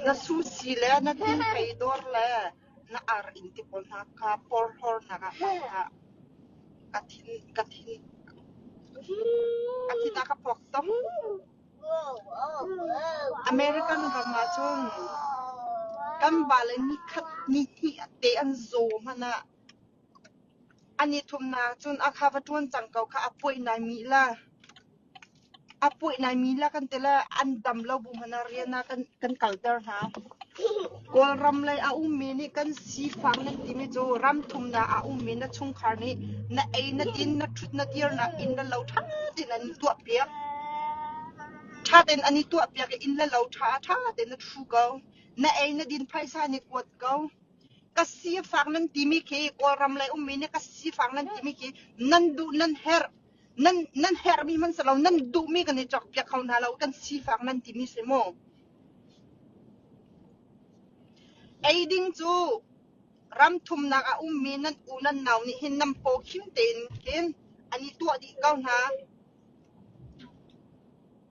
Na sumsi le na tinpei dawr le na ar in ti pawl hna kha porhlawrnak ah hmang hlah. Ka thin, ka thin, ka thin ah ka puak tuk. American ram ah cun kan vale ni khat ni hnih te an zaw hmanh ah an i thumnak cun a kha va ṭuan cang ko kha a puai nai mi la. A puih laimi le kan ti le an dam lo bu hmanh ah rian ah kan kalter hna. Kawlram lei a ummi nih kan sifak nan timi cu ram thumnak a ummi na chungkhar nih na ei, na din, na ṭhut, na kir nakin na lo ṭha tein an i tuahpiak. Ṭha tein an i tuahpiak i inn le lo ṭha ṭha tein a ṭhu ko. Na ei, na din phaisa nih kuat ko. Ka sifak nan timi khi Kawlram lei ummi nih ka sifak nan timi khi nan duh nan herh. nan herhmi hmanh si lo nan duhmi kan i cokpiak kho hna lo kan sifak nan timi si mu eiding cu ram thumnak a ummi nan u nan nau nih hin nam paw khim tein kin an i tuah dih ko hna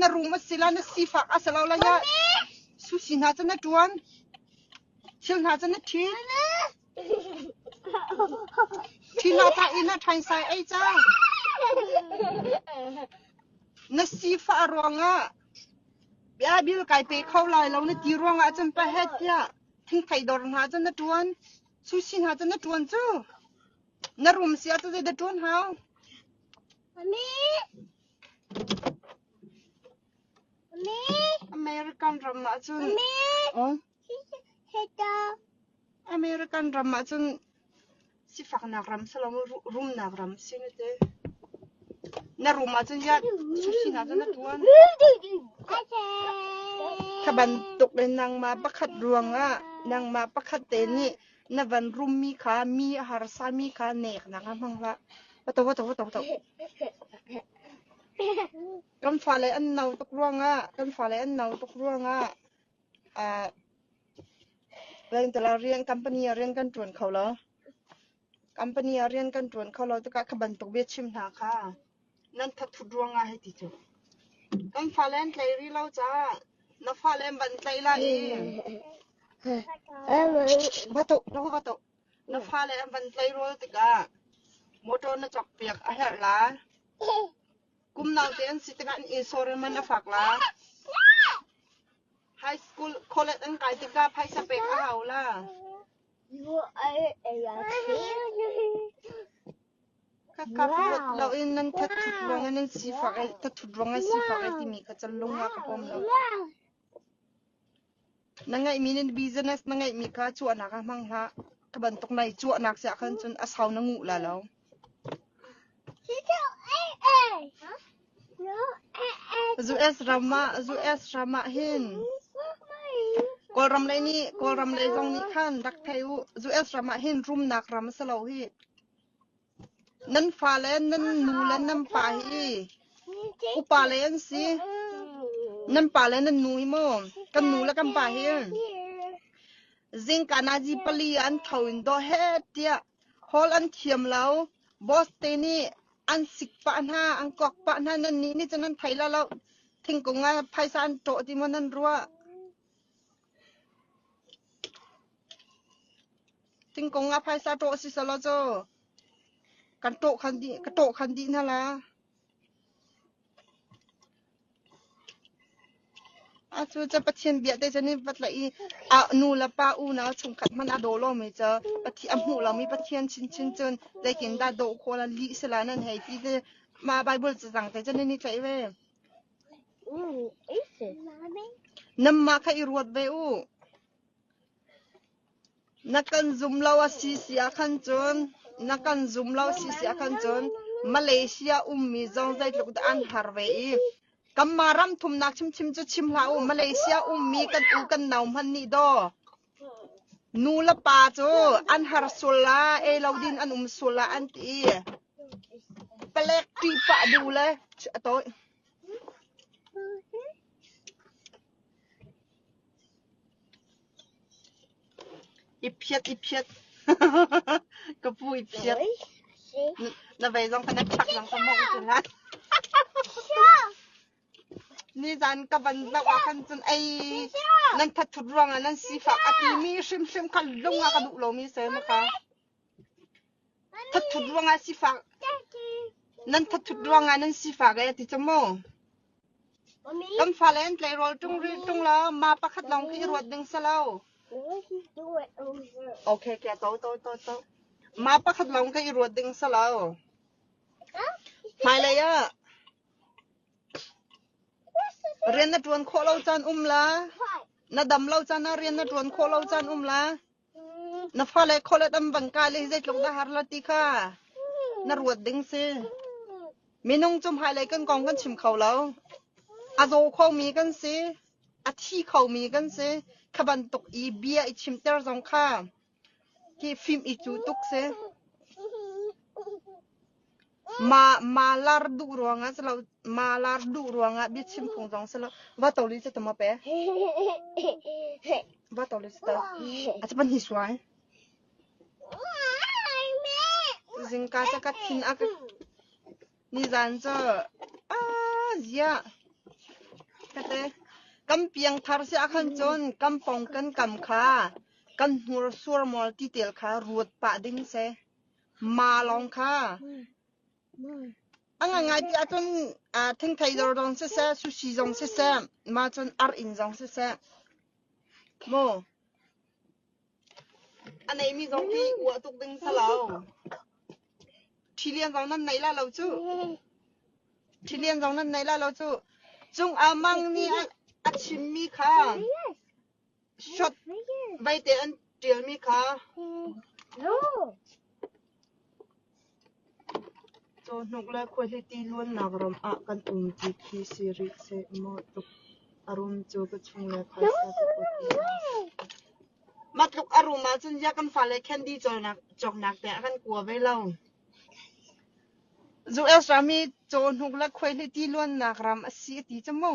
na room a si la na sifak a si lo la ya sushi hna cu na tuan thil hna cu na thin thin hna ta in a thain sai ei cha na sifa ruangah bia bil kai pe kho lai lo na ti ruangah cun pa het tiah thing thai dor hna cu na tuan sushi hna cu na tuan cu na room sia tu zei da tuan hau ani American ram ah cun American ram ah cun sifaknak ram siloin rumnak ram si na ti. Na rum ahcun ya susinak cu na tuan. Kha bantuk in nangmah pakhat ruangah nangmah pakhat te nih Na van rummi kha mi a harsami kha neknak ah hmang hlah. Kan fale an no tuk ruangah kan fale an no tuk ruangah ah pengtala rian company ah rian kan ṭuan kho lo. Company ah rian kan ṭuan kho lo tikah kha bantuk bia chim hna kha Nan thathut ruangah hi ti cu. Kan fale an tlei rih lo caah na fale an van tlaih lai i va toh na va va toh na fale an van tlaih rawl tikah motor na cawkpiak a herh la. Kum naute an si tikah an insurance man a fak la. High school college an kai tikah phaisa pek a hau la. Lut loin nan thathut ruangah nan sifak i thathut ruangah sifak ai timi kha cunlung ah ka bawm lo. Na ngeihmi nan business na ngeihmi kha chuahnak ah hmang hlah. Ka bantuk na i chuahnak siah khan cun a sau na nguh la lo. US ram ah hin Kawlram lei nih Kawlram lei zong nih khan rak thei u. US ram ah hin rumnak ram a si lo hi. Nan fa le nan nu le nan pa hi upa le an si. Nan pa le nan nu hi maw kan nu le kan pa hi Zingkanazi pali an tho in dawh heh tiah hall an thiam lo. Boss te nih an sik pah hna, an kawk pah hna. Nannih nih cun an thei lo loh. Thingkung ah phaisa an ṭawh ti maw nan ruah? Thingkung ah phaisa ṭawh a si selaw cu kan ṭawh khan dih, ka ṭawh khan dih hna la. Cu cu Pathian bia te cu nan va tlaih i nu le pa unau chungkhat hmanh ah daw law mei cu a hmuh lomi Pathian chinchin cun zeitindah daw khawh la lih si lai nan hei ti ti mah Baibal cazang te cu nan i tlaih ve. Nanmah kha i ruat ve u. Na kan zum lo a si si ahkhan cun Malaysia ummi zong zeitluk dah an har ve i kanmah ram thumnak hrimhrim cu chim hlah u. Malaysia ummi kan u kan nau hmanh nih daw nu le pa cu an har sual la, ei lo din an um sual la an ti i palek ṭih pah duh le a tawih. Iphiat iphiat ka pu iphiat na vei zong ka na chak zong ka mawh ti lai. Nizan ka van zoh ah khan cun ei nan thathut ruangah nan sifak a timi hrimhrim kha lung ah ka duh lomi se mu ka. Thathut ruangah sifak nan thathut ruangah nan sifak ee a ti ca maw? Kan fale an tleirawl ṭung rih ṭung lo. Ma pakhat lawng khi i ruat ding si lo. Okay, ke to to to to. Ma pakhat lawng khi i ruat ding si lo. Hmailei ah rian na ṭuan khawh lo caan um la. Na dam lo caan ah rian na ṭuan khawh lo caan um la. Na fale khualet an van kai le hi zeitluk na har la ti kha na ruat ding si. Minung cu hmailei kan kong kan chim kho lo. A zaw khomi kan si. A thi khomi kan si. Kha bantuk i bia i chimter zong kha ki fim i cu tuk si. Malar duh ruangah si lo, malar duh ruangah biachim phung zong si lo. Va to li cu ta maw pe? Va to li cu ta. A cu pahnih suai. Zingka cu ka thin a ka... Nizan cu... Ah, ziah. Kate, kan piangthar si ahkhan cun kampong kan kam kha kan hnursuar mawl titel kha ruat pah ding si. Maa lawng kha a ngaingai ti ahcun thingthei dor zong siseh, sushi zong siseh, maa cun arh in zong siseh, maw a neimi zong hi uah tuk ding si lo. Ṭhi lian zong nan neih la lo cu. Ṭhi lian zong nan neih la lo cu. Cung a mang nih a, a chimmi kha Shot vaite an ṭialmi kha cawhnuk le khuahliti luannak ram ah kan um ti khi si rih seh maw tluk a rum cu ka chungle phaisa ka kuat lai. Mah tluk a rum ahcun ziah kan fale candy cawnak cawknak te a kan kua ve lo. Zu Els rami cawhnuk le khuahliti luannak ram a si a ti cu mu.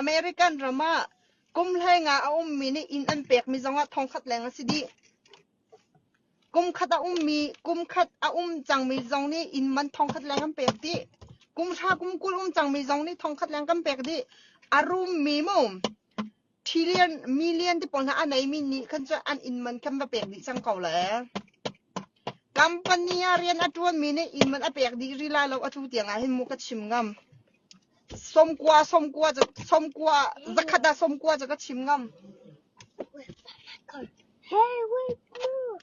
American ram ah kum hleng ah a ummi nih inn an pekmi zongah thongkhat leng a si dih. Kumkhat a um cangmi zong nih inn man thongkhat leng an pek dih. Kumhra kumkul um cangmi zong nih thongkhat leng kan pek dih. A rummi mu. Million ti pawl hna a neimi nih khan cu an inn man kan va pek dih cang ko le. Company ah rian a ṭuanmi nih inn man a pek dih rih lai lo, atu tiang ah hin mu ka chim ngam. Somkua, somkua, cu- somkua, zakhat ah somkua cu ka chim ngam. Hey, wait, look.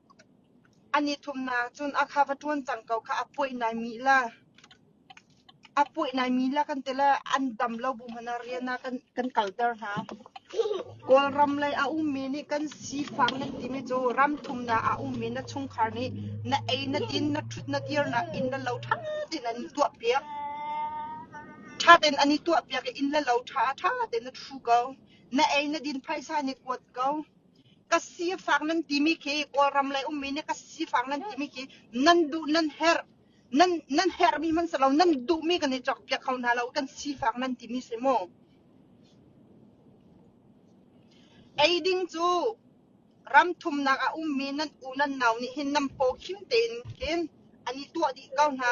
A nithumnak cun a kha va ṭuan cang ko kha a puih naimi la kan ti le an dam lo bu hmanh ah rian ah kan kalter hna. Kawlram lei a ummi nih kan sifang an timi cu ram thumnak a ummi na chungkhar nih na ei, na din, na ṭhut, na dir nakin na lo ṭha tein an i tuahpiak. Ṭha tein an i tuahpiak i inn le lo ṭha ṭha tein a ṭhu ko. Na ei, na din phaisa nih kuat ko. ka sifak nan timi khi Kawlram lei ummi nih ka sifak nan timi khi nan duh nan herh nan nan herhmi man silo nan duhmi kan i chok piak kho hna lo kan sifak nan timi si mu eiding cu ram thumnak a ummi nan u nan nau nih hin nam paw khim tein kin an i tuah dih ko hna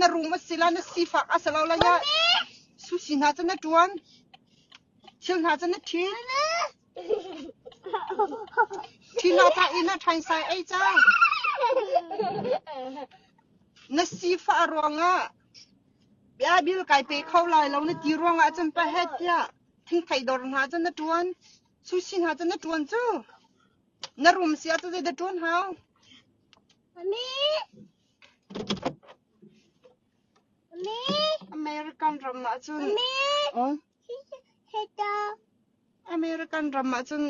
na room a si la na sifak a si lo la ya sushi hna cu na ṭuan thil hna cu na ṭhin ṭhina ta in a ṭhaisai ei cang na sifah ruangah bia bil kai pe kho lai lo na ti ruangah cun pa het tiah thingthei dor hna cu na ṭuan sushi hna cu na ṭuan cu na room sia tu zeidah ṭuan hau ani American ram ah cun American ram ah cun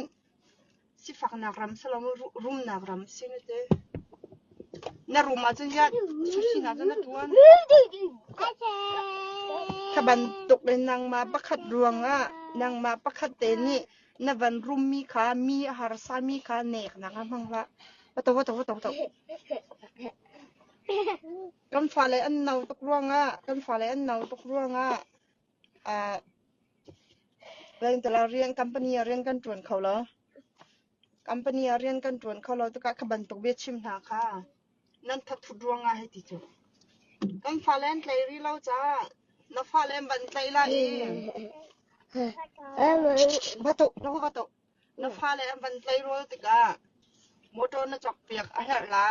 sifaknak ram si lomi rumnak ram si na ti. Na rum ah cun ya thuthinak in na tuan. Kha bantuk in nangmah pakhat ruang ah nangmah pakhat te nih Na van rummi kha mi a harsami kha neknak ah hmang hlah. Kan fale an no tuk ruangah kan fale an no tuk ruangah ah pengtala rian company ah rian kan tuan kho lo. Company ah rian kan tuan kho lo tikah ka bantuk bia chim hna kha Nan thathut ruangah hiti cu. Kan fale an tlei rih lo caah na fale an van tlaih lai i na fale an van tleirawl tikah motor na cawkpiak a herh la.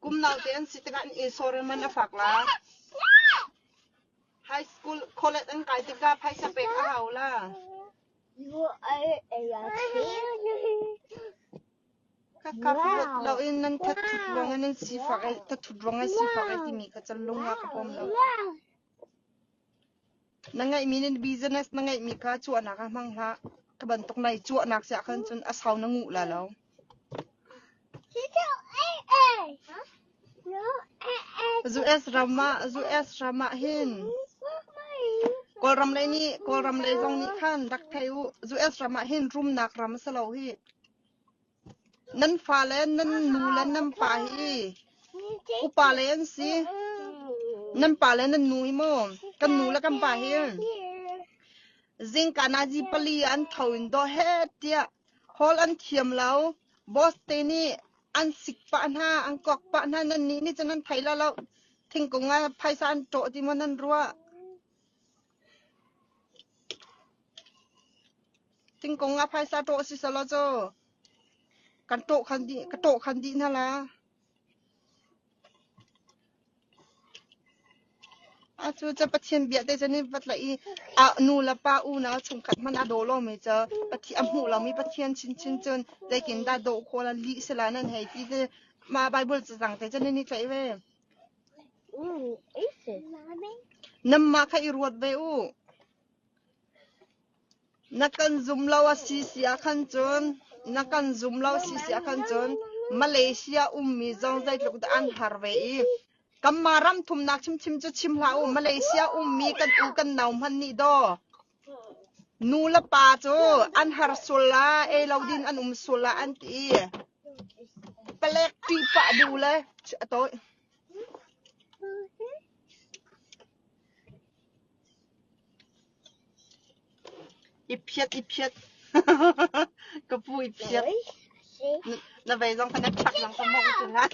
Kum naute an si tikah an insawrem an a fak la. High school kholek an kai tikah phaisa pek a hau la. Ka thut loin nan thathut ruangah nan sifak i thathut ruangah sifak ai timi kha canlung ah ka bawm lo. Na ngeihmi nih business na ngeihmi kha chuahnak ah hmang hlah. Ka bantuk na i chuahnak siah khan cun a sau na nguh la lo. US ram ah US ram ah hin Kawlram lei nih Kawlram lei zong nih khan rak thei u. US ram ah hin rumnak ram a si lo hi. Nan fale nan nu le nan pa hi upa le an si. Nan pa le nan nu hi maw kan nu le kan pa hi zingka nazi pali ah an tho in daw heh tiah hall an thiam lo. Boss te nih an sik pah hna, an kawk pah hna. Nannih nih cun an thei lo loh. Thingkung ah phaisa an ṭawh ti maw nan ruah? Thingkung ah phaisa ṭawh a si selaw cu kan ṭawh khan dih, ka ṭawh khan dih hna la. Atu cu Pathian bia te cu ni va tlaih i a nu le pa unau chungkhat hmanh a daw lomi cu a hmuh lomi Pathian chinchin cun zeitindah daw khawh la lih sila nan hei ti ti mah Baibal cazang te cu nan i tlaih ve. Nanmah kha i ruat ve u. Na kan zum lo a si si ahkhan cun na kan zum lo a si si ahkhan cun Malaysia ummi zong zeitluk dah an har ve i kanmah ram thumnak hrimhrim cu chim hlah u. Malaysia ummi kan u kan nau hmanh nih daw. Nu le pa cu an har sual ah, ei lo ding an um sual ah an ti i palek ṭih pah bu le a tawih. I phiat, i phiat. Ka pu i phiat. Na, na vei zong kha na chak zong ka mong tung han.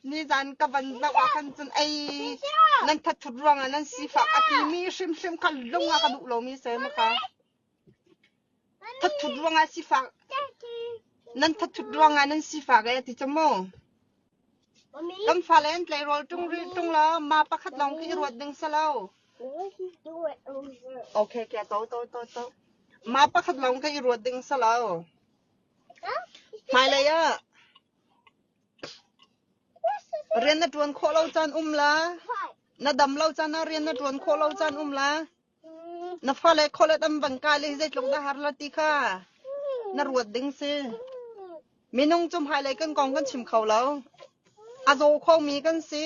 Nizan ka van zoh ahkhan cun ei nan thathut ruangah nan sifak a timi hrimhrim kha lung ah ka duh lomi si ai maka. Thathut ruangah sifak nan thathut ruangah nan sifak ai ti cu maw? Kan fale an tleirawl ṭung rih ṭung lo. Ma pakhat lawng khi i ruat ding si lo. Okay, kia to to to to. Ma pakhat lawng ka i ruat ding si lo. Hmailei ah Rian na ṭuan khawh lo caan um la, na dam lo caan ah rian na ṭuan khawh lo caan um la, na fale khualet an van kai le hi zeitluk dah a har la ti kha na ruat ding si. Minung cu hmailei kan kong kan chim kho lo. A zaw khomi kan si,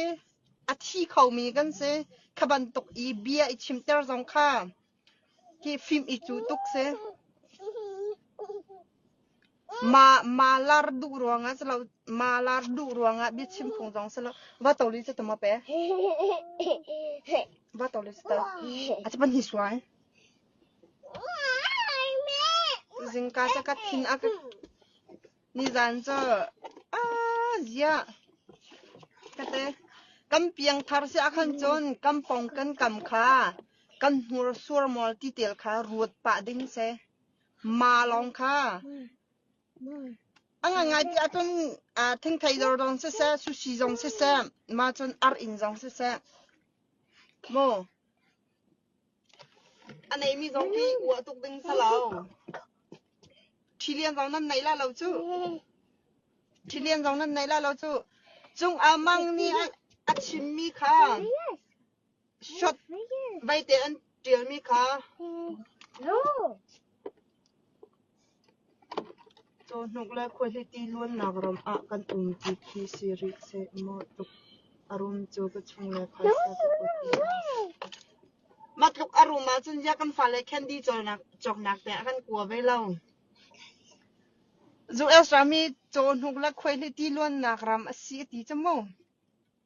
a thi khomi kan si. Kha bantuk i bia i chimter zong kha Hi fim i cuh tuk sih. Malar duh ruangah si lo, malar duh ruangah biachim phung zong si lo. Va to li cu ta maw pe? Va to li cu ta. A cu pan hi suai. Zingka cu ka thin a ka... Nizan cu kan piangthar si ahkhan cun kampong kan kam kha kan hnursuar mawl ti tel kha ruat pah ding si. Ma lawng kha a ngaingai ti ahcun thingthei dor zong siseh, sushi zong siseh, ma cun ar in zong siseh, maw A neimi zong hi uah tuk ding si lo. Ṭhi lian zong nan nei lah lo cuh. Ṭhi lian zong nan nei lah lo cuh. Cung Ah Mang nih a chimmi kha shot vaite an ṭialmi kha Cawhnuk le khuahliti luannak ram ah kan um ti khi si rih seh maw tluk a rum cu ka chungle phaisa ka put lai. Mah tluk a rum ahcun ziah kan fale candy cawknak te a kan kua ve lo. US rami cawhnuk le khuahliti luannak ram a si a ti cu mu.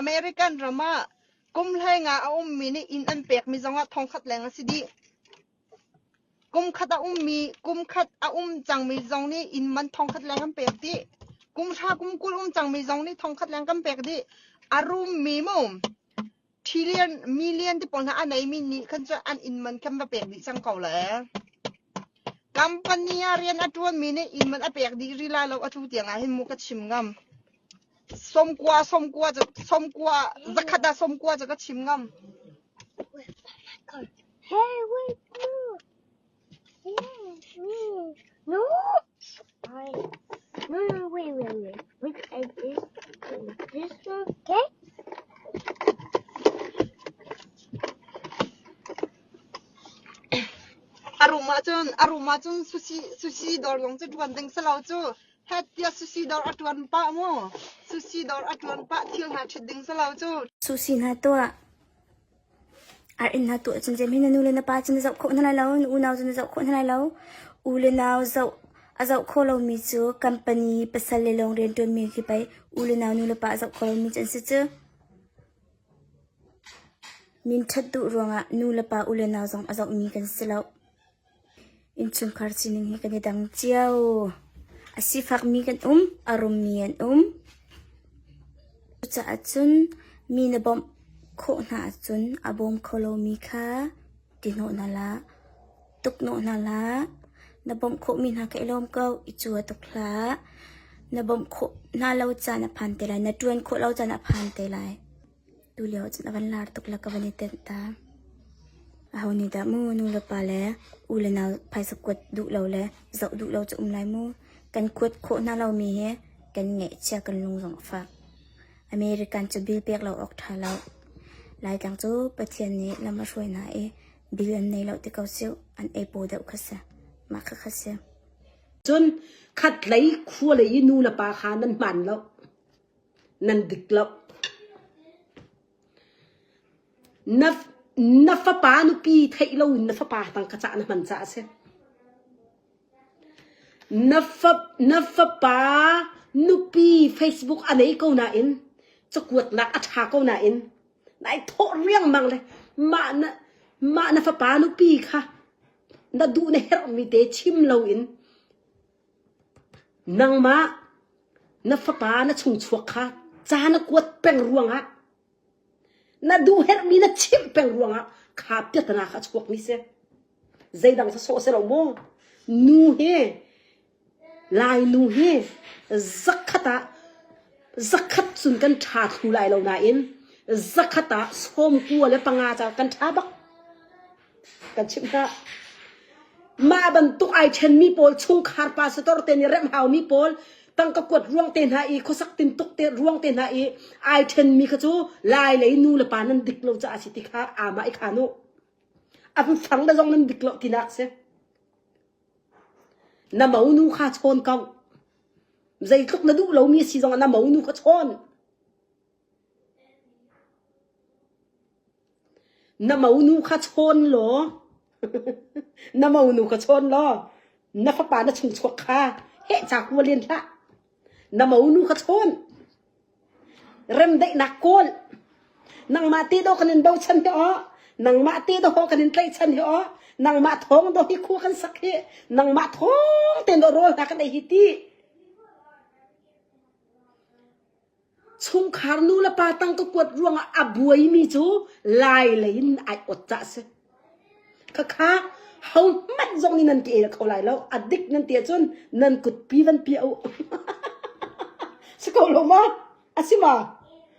American ram ah kum hleng ah a ummi nih inn an pekmi zongah thongkhat leng a si dih. Kumkhat a um cangmi zong nih inn man thongkhat leng an pek dih. Kumhra kumkul um cangmi zong nih thongkhat leng kan pek dih. A rummi mu. Million ti pawl hna a neimi nih khan cu an inn man kan va pek dih cang ko le. Company ah rian a ṭuanmi nih inn man a pek dih rih lai lo a tu tiang ah hin mu ka chim ngam. Somkua somkua cu somkua zakhat ah somkua cu ka chim ngam. Hey, wait, look. A rum ahcun sushi dawr zong cu ṭuan ding si lo cu. Hlat tiah sushi dawr a ṭuan pah mu. Sushi dawr a ṭuan pah thil hna ṭhit ding si lo cu. Sushi hna tuah. Ar innhnak tu ahcun Jeim hi na nu le na pa cu na zoh khawh hna lai lo, na unau cu na zoh khawh hna lai lo. U le nau zoh a zoh kho lomi cu company pasal le lawng rianṭuanmi khi pei u le nau, nu le pa a zoh kho lomi cu an si cu. Minṭhat duh ruangah nu le pa, u le nau zong a zohmi kan si loh. Innchungkhar sining hi kan i dang cio. A sifakmi kan um, a rummi an um. Cucaah cun mi na bawmh khawh hna ahcun a bawm kho lomi kha ti hnawh hna hlah. Tukhnawh hna hlah. Na bawmh khawhmi hna kha i lawm ko, i cua tuk hlah. Na bawmh khawh hna lo caan a phan te lai. Na ṭuan khawh lo caan a phan te lai. Tulio cun a van lar tuk le ka van i tenh ta. Aho nih dah mu nu le pa le u le nau phaisa kuat duh lo le zoh duh lo cu um lai mu. Kan kuat khawh hna lomi hi kan ngeihchia kan lung zong a fak. American cu bill pek lo awk ṭha lo. Laitlang cu Pathian nih lam a hruai hna i bill an nei lo ti ko sih. An ei paw deuh kha si. Mah kha kha si. Cun khatlei khua lei i nu le pa kha nan hman lo. Na fapa nupi theih loin na fapa tangka cah na hman caah a si. Na fapa nupi Facebook a nei ko nain cakuatnak a ṭha ko nain na i thawh riangmang le mah na fapa nupi kha na duh na herhmi te chim loin Nangmah na fapa na chungchuak kha ca na kuat peng ruangah, na duhherhmi na chimh peng ruangah kha piatana kha a chuakmi si. Zeidang sawsawh si lo maw, nu hi, Lainu hi zakhat ah zakhat cun kan ṭha thlu lai lo nain zakhat ah sawmkua le panga ca kan ṭha bak. Mah bantuk ai ṭhenmi pawl chungkhar pa sitor te nih remh haumi pawl tangka kuat ruang te hna i khuasak tintuk te ruang te hna i ai ṭhenmi kha cu lai lei nu le pa nan dik lo caah a si ti kha aamah i khaan u. An fang le zong nan dik lo tinak a si. Na monu kha chawn ko. Zeitluk na duh lomi a si zong na monu kha chawn. Na monu kha chawn law na monu kha chawn law na fapa na chungchuak kha heh ca kua len hlah na monu kha chawn remdaihnak kawl nangmah te do kan in do chan te o nangmah te do ho kan in tlai chan he o nangmah thong do hi khu kan sak hi nangmah thong ten do rol ta kan ei hi ti Chungkhar nulepa tang ka kuat ruangah a buaimi cu Lai lei in ai ot cah a si. Khakha hohmanh zong nih nan ka el kho lai lo. A dik nan ti ahcun nan kutpi vanpi a uh. Si ko lo ma? A si ma?